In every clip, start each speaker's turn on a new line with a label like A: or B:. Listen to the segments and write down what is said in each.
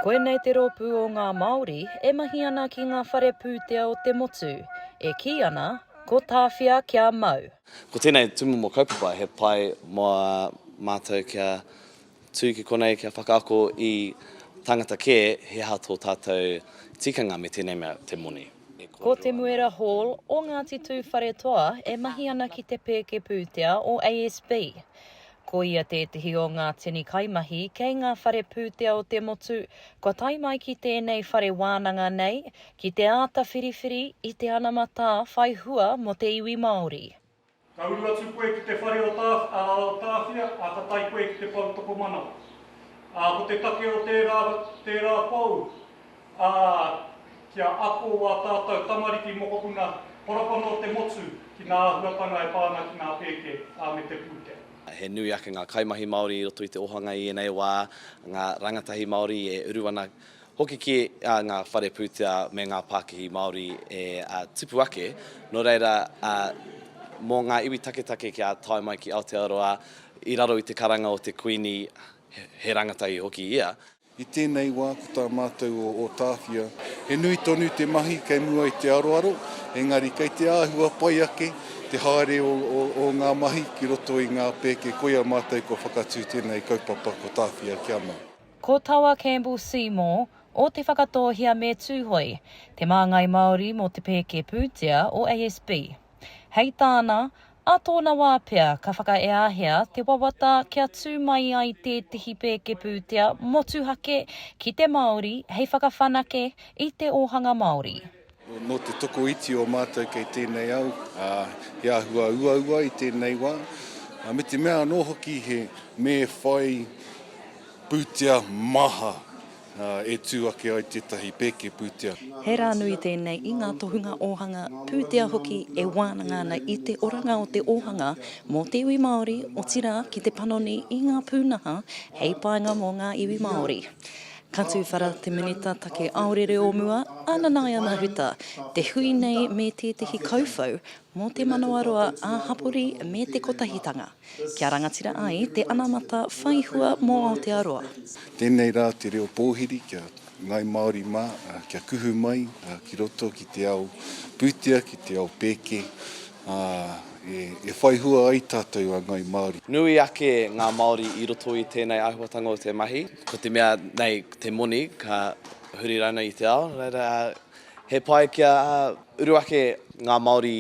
A: Koinei te rōpū o ngā Māori e mahi ana ki ngā whare pūtea o te motu, e kī ana, ko Tāwhia kia mau. Ko tēnei tūmomo
B: kaupapa he pai mō mātou kia tū ki konei kia whakaako i tāngata kē he aha tō tātou tikanga me tēnei mea te moni. Ko Te Muera
A: Hall o Ngāti Tūwharetoa e mahi ana ki te pēke pūtea o ASB. Ko ia tētehi o ngā tini kaimahi kei ngā whare pūtea o te motu kua tae mai ki tēnei whare wānanga nei ki te āta whiriwhiri i te anamatā whai hua mō te iwi Māori. Ka uru atu
C: koe ki te whare o Tāwhia, ā, ka tae koe ki te poutokomanawa. Ā, ko te take o tērā, tērā pou, ā, kia ako ā tātou tamariki mokopuna horapana o te motu ki ngā āhuatanga e pā ana ki ngā pēke, ā, me te pūtea. He nui ake ngā
B: kaimahi Māori i roto i te ohanga i ēnei wā, ngā rangatahi Māori e uru ana hoki ki ngā whare pūtea me ngā pākihi Māori e tipu ake, nō reira, mō ngā iwi taketake kia tae mai ki Aotearoa i raro i te karanga o te Kuini, he rangatahi hoki ia. I tēnei wā
D: ko tā mātou o Ōtāwhia, he nui tonu te mahi kei mua i te aroaro, engari kei te āhua pai ake te haere o ngā mahi ki roto i ngā pēke koia mātou kua whakatū tēnei kaupapa ko Tāwhia kia mau. Ko Tawa
A: Campbell Seymour, o Te Whakatōhea me Tūhoe, te māngai Māori mō te pēke pūtea o ASB. Hei tāna, ā tōna wā pea ka whakaeahea te wawata kia tū mai ai tētehi pēke pūtea motuhake ki te Māori hei whakawhanake i te ōhanga Māori. Nō te
D: tokoiti o mātou kei tēnei au, ā, he āhua uaua i tēnei wā, ā, me te mea anō hoki he me whai pūtea maha E tū ake ai tētahi pēke pūtea. He rā nui
A: tēnei i ngā tohunga ōhanga pūtea hoki e wānanga ana i te oranga o te ōhanga mō te iwi Māori, otirā ki te panoni i ngā pūnaha hei painga mō ngā iwi Māori. Ka tūwhara te Minita Take Aorere o mua, a Nanaia Huta, te hui nei me tētahi kauwhau mō te manawaroa ā-hapori me te kotahitanga. Kia rangatira ai te anamata whai hua mō Aotearoa. Tēnei rā
D: te reo pōhiri ki a Ngāi Māori mā, kia kuhu mai ki roto ki te ao pūtea, ki te ao pēke, ā, e whai hua ai tātou a Ngāi Māori. Nui ake ngā
B: Māori i roto i tēnei āhuatanga o te mahi. Ko te mea nei te moni ka huri rānei i te ao, reira he pai kia uru ake ngā Māori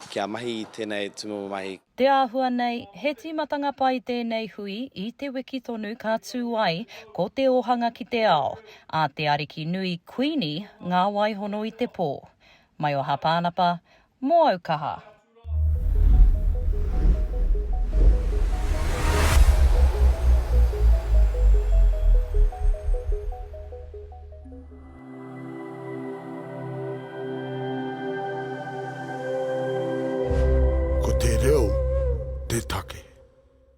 B: kia mahi i tēnei tūmomo mahi. Te āhua nei,
A: he tīmatanga pai tēnei hui i te wiki tonu ka tū ai ko te ōhanga ki te ao, a te ariki nui Kuini ngā waihono i te pō. Mai o Hāpānapa, mō au kaha.
E: Ko te reo te take.